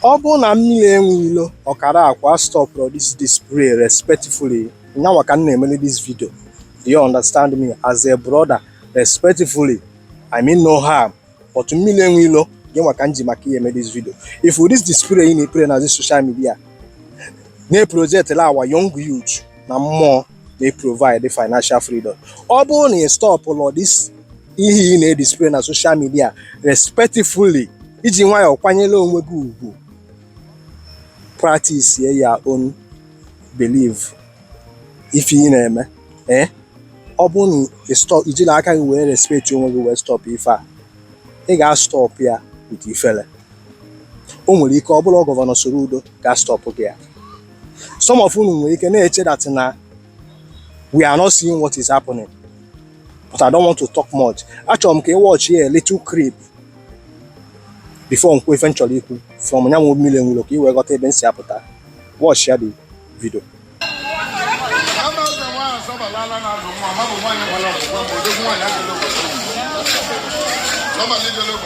Ọ bụrụ na mmiri enwe ilo ọkara akwa astọpụrọ this display respectfully ya nwa ka m na-emeli this video do you understand me as a brother respectfully I mean no harm but mmiri enwe ilo gị nwa ka m ji maka gị eme this video if this display ị na-eplay na this social media na-eprojectịlị our young youth na mmụọ na-eprovide financial freedom ọ bụrụ na ị stọpụrọ this ihe ị na-edisplay na social media respectfully iji nwayọọ kwanyere onwe gị ugwu practice your own belief ife ị na-eme ee eh? ọ bụrụ na ị stọp i jirọ aka gị wee respect onwe gị wee stọp ife a ị ga-astọp ya with ifele o nwere ike ọ bụrụ gọvanọ Soludo ga-astọpụ gị ya some of unu nwere ike na-eche that na we are not seeing what is happening but I don't want to talk much achọrọ m ka ị watch a little clip before m kwuo ife m chọrọ ikwu from ya nwa mmiri enwe ilo ka ị wee ghọta ebe m si apụta watch ya the video Normally,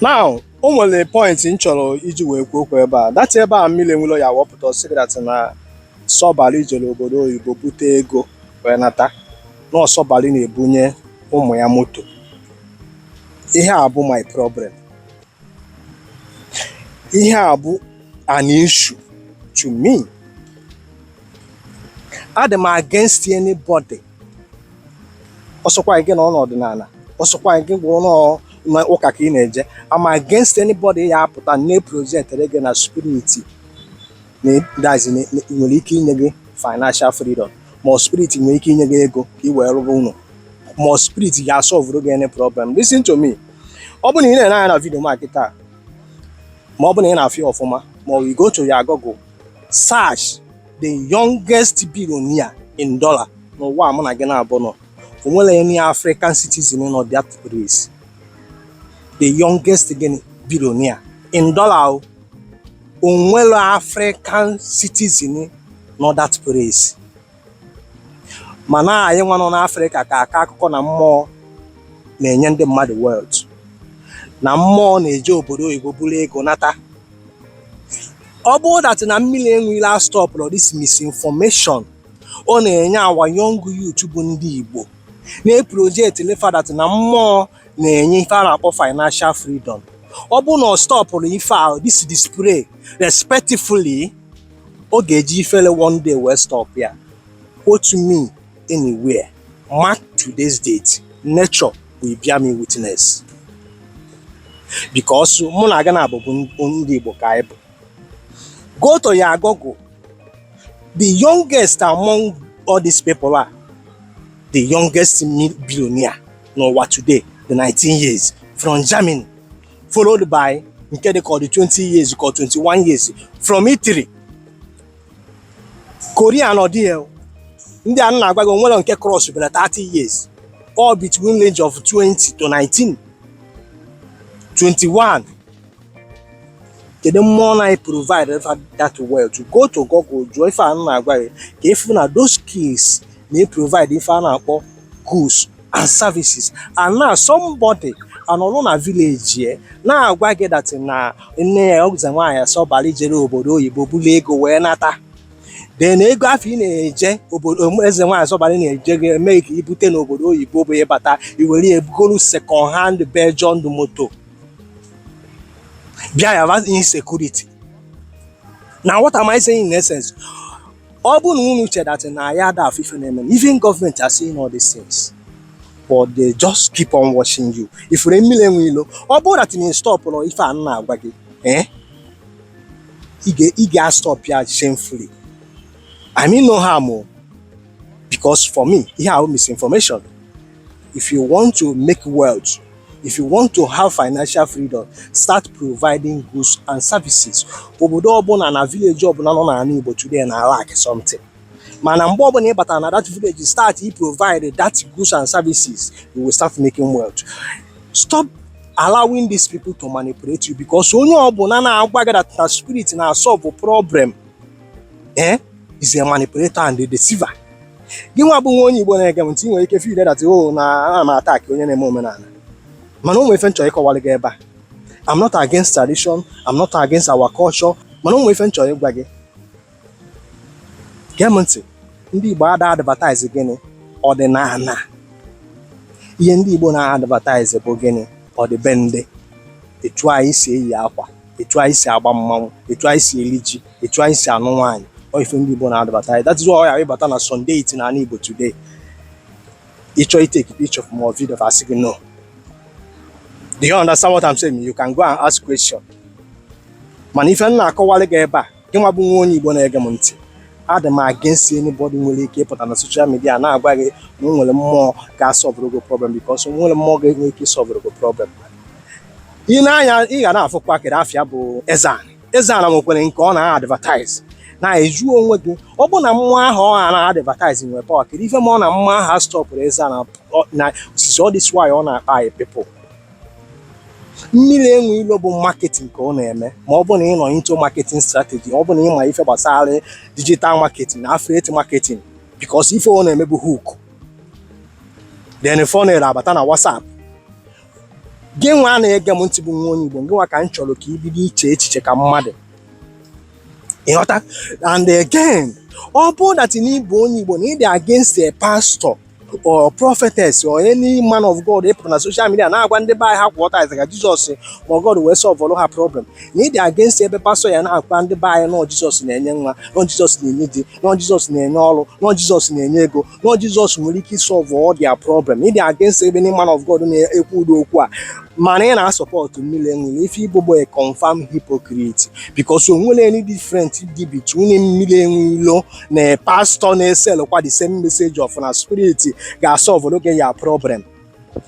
now o nwere pọintị m chọrọ iji wee kwuo okwu ebe a that ebe a mmiri enwe ilo ya wee pụta sị gị that na Sọbalị jere obodo oyibo bute ego wee nata na Sọbalị na-ebunye ụmụ ya moto ihe a bụ my problem ihe a bụ an issue to me adị m against anybody ọ sọkwa gị nọ n'ọdịnala ọ sọkwa gị ọ bụrụ na ụka ka ị na-eje I'm against anybody ya apụta na-eprojectịrị gị na spirit that's nwere ike inye gị financial freedom ma spirit nwere ike inye gị ego ka ị wee rụba ụnọ ma spirit ga-asọvụrụ gị any problem listen to me ọ bụrụ na ị na-ene anya na vidio m a kịta ma ọ bụrụ na ị na-afụ ya ọfụma ma ọ bụ you go to your Google search the youngest billionaire in dollar n'ụwa mụ na gị n'abụọ nọ o nwere any African citizen nọ that place the youngest gịnị billionaire in dollar o o nwere African citizen nọ that place mana anyị nwa nọ n'Afrịka ka akọ akụkọ na mmụọ na-enye ndị mmadụ wealth na mmụọ na-eje obodo oyibo buru ego nata ọ bụrụ that na mmiri enwe ilo astọpụrọ this misinformation ọ na-enye our young youth bụ ndị Igbo na-eprojectịlị fa that na mmụọ na-enye ife a na-akpọ financial freedom ọ bụrụ na ọ stọpụrọ ife a this display respectfully Ọ ga-eji ifele one day wee stop ya. Quote me anywhere. Mark today's date. Nature will bear me witness. Because mụ na gị naabọ bụ ndị Igbo ka anyị bụ. Go to your Google. The youngest among all these people are the youngest billionaire n'ụwa today, the 19 years from Germany. followed by nke dị ka ọ dị 20 years ka 21 years from Italy Korea nọ there ndị a m na-agwa gị onwere nke cross bela 30 years all between range of 20 to 19 21 kedu mmụọ na-eprovide that wealth go to Google jụọ ife a m na-agwa gị ka ịfụ na those skills na-eprovide ife a na-akpọ goods and services and now somebody anọrọ na village ya na-agwa gị that na ọ eze nwaanyị asọbara ijere obodo oyibo bulu ego wee nata then ego afụ ị na-eje obodo um, eze nwaanyị asọbara na-eje gị eme ka ibute n'obodo oyibo bụ ịbata iwere ya bugoro second hand Belgian moto bịa ya insecurity now what am I saying in essence ọ bụrụ na unu che that na anyị ada afụ ife na-eme even government are seeing all these things but they just keep on watching you ifure mmiri enwe ilo ọ bụrụ that na ị stọpụrọ ife a m na-agwa gị eh? ị ga-astọp ya shamefully I mean no harm o oh. because for me ihe a bụ misinformation If you want to make wealth, if you want to have financial freedom, start providing goods and services. Obodo ọbụla na village ọbụla nọ n'ala Igbo today na lack something. Mana mgbe ọbụla ị batara na that village, start to provide that goods and services, you will start making wealth. Stop allowing these people to manipulate you because onye ọbụla na-agwa gị that na spirit na-solve problem eh is a manipulator and a deceiver gị nwa bụ nwa onye Igbo na-ege m ntị nwere ike feel that oh na ana m attack onye na-eme omenala mana o nwere ife m chọrọ ịkọwara gị ebe a I'm not against tradition I'm not against our culture mana o nwere ife m chọrọ ịgwa gị gee m ntị ndị Igbo ada advertise gịnị ọdịnala ihe ndị Igbo na-advertise bụ gịnị ọdịbendị etu anyị si eyi akwa etu anyị si agba mmanwụ etu anyị si eli ji etu anyị si anụ nwaanyị ọ ife ndị Igbo na-advertise that is why ị bata na some deity na ala Igbo today ịchọ itake picture fa ma ọ video fa asị gị no do you understand what I'm saying you can go and ask question mana ife m na-akọwalị gị ebe a gịnwa bụ nwa onye Igbo na-ege m ntị adị m against anybody nwere ike ịpụta na social media na-agwa gị na o nwere mmụọ ga-asọlvụrụ gị problem because o nwerọ mmụọ ga-enwe ike ịsọlvụrụ gị problem ị na-anya ị ga na-afụ pakịrị afịa bụ Eze-Ana Eze-Ana nwekwere nke ọ na-advertise na-ajụ onwe gị ọ bụ na mmụọ ahụ ọ na-advertise nwere power kedu ife mere na mmụọ ahụ astọpụrọ Eze-Ana osisi ọ this agwa ọ na-akpa our people mmiri enwe ilo bụ marketing ka ọ na-eme ma ọ bụ na ị nọ into marketing strategy ọ bụ na ị ma ife gbasara digital marketing na affiliate marketing because ife ọ na-eme bụ hook then funnel abata na WhatsApp gị nwa na-ege m ntị bụ nwa onye Igbo gị nwa ka m chọrọ ka ị bido iche echiche ka mmadụ ị ghọta and again ọ bụrụ that na ị bụ onye Igbo na ị dị against a pastor or prophetess or any man of God ịpụta na social media na-agwa ndị be anyị ha kwụọ tithe ka Jizọs or God wee sọlvụrụ ha problem na ị dị against ebe pastor na-agwa ndị be anyị na ọ Jizọs na-enye nwa na ọ Jizọs na-enye di na ọ Jizọs na-enye ọrụ na ọ Jizọs na-enye ego na ọ Jizọs nwere ike ịsọlvụ all their problem ị dị against ebe ndị man of God na-ekwu ụdị okwu a mana ị na-asupport mmiri enwe ilo ife ị bụ bụ a confirmed hypocrite because o nwerọ any different dị between mmiri enwe ilo na pastor na-esel kwa the same message of na spirit ga-asọlvụrụ gị your problem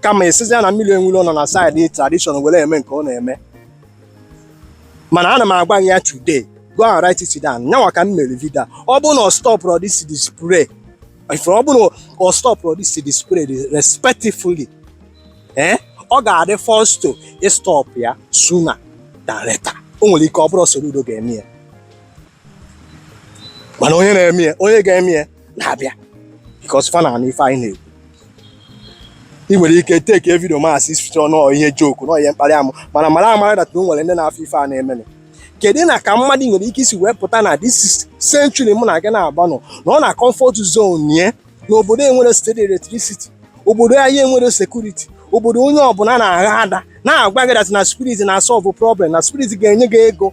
kama esizi ya na mmiri enwe ilo nọ na side tradition were eme nke ọ na-eme mana ana m agwa gị ya today go and write it down nyanwa ka m mere video ọ bụ na ọ stọpụrọ this display if ọ bụ na ọ stọpụrọ this display respectfully eh ọ ga-adị forced to ịstọpụ ya sooner than later o nwere ike ọ bụrụ Soludo ga-eme ya mana onye na-eme ya onye ga-eme ya na-abịa because fa na-anụ ife anyị na-ekwu ị nwere ike take video m a as if na ọ ihe joke na ọ ihe mkparị amụ mana mara amara that o nwere ndị na-afụ ife a na-emenụ kedu na ka mmadụ nwere ike isi wee pụta na this century mụ na gị na-agba nọ na ọ na comfort zone ye na obodo enwerọ steady electricity obodo anyị enwerọ security obodo onye ọbụla na-agha ada na-agwa gị that na spirit na-asọlvụ problem na spirit ga-enye gị ego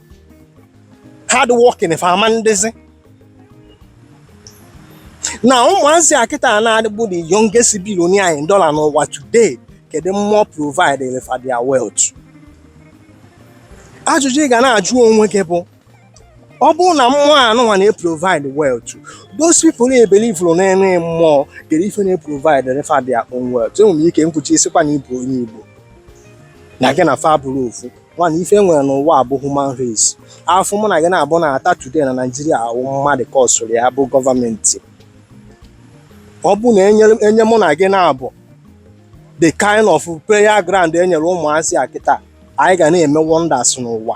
hard working fa ama ndịzi na ụmụazị a kịta na-adịbụ the youngest billionaire in dollar n'ụwa today kedu mmụọ providere fa their wealth ajụjụ ị ga na-ajụ onwe gị bụ ọ bụrụ na mmụọ anụnwa na-eprovide wealth those people na-ebeliverọ na any mmụọ kedu ife na-eprovidere fa their own wealth i nwere ike ikwuzi sịkwa na ị bụ onye Igbo na gị na fa abụrọ ofu nwana ife e nwere n'ụwa a bụ human race afụfụ mụ na gị naabọ na-ata today na Nigeria awụ mmadụ kọsụrụ ya bụ gọọmenti ọ bụrụ na e nye mụ na gị naabọ the kind of playground e nyere ụmụazị a kịta anyị ga na-eme wonders n'ụwa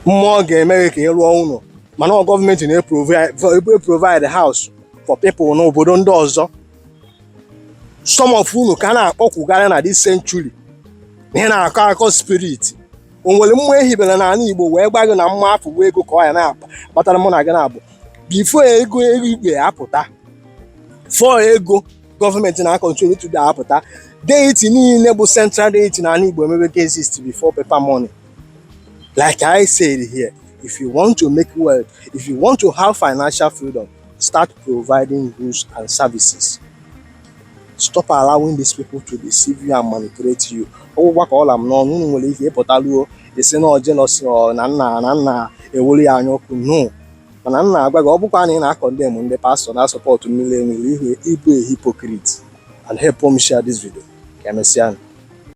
mmụọ ga-eme gị ka ị rụọ ụlọ mana ọ gọọmenti na-eprovide house for people n'obodo ndị ọzọ some of unu ka a na-akpọkwugara na this century na ị na-akọ akọ spirit o nwere mmụọ e hibere n'ala Igbo wee gwa gị na mma afọ wee ego ka ọ ya na-akpatara mụ na gị naabọ before ego igwe apụta before ego gọọmenti na-akọntrol today apụta deity niile bụ central deity n'ala Igbo emebe ka exist before paper money like I said here if you want to make wealth if you want to have financial freedom Start providing goods and services. Stop allowing these people to deceive you and manipulate you. Ọ wụkwa ka ọ la m n'ọnụ unu nwere ike ịpụtaluo isi na jealousy or na m na na m na-enwelu ya anya ọkụ no mana m na-agwa gị ọ bụkwa na ị na-akọndem ndị pastọ na-asọpọtụ mmiri enwe ilo ị bụ a hypocrite and help m share this video ka emesịa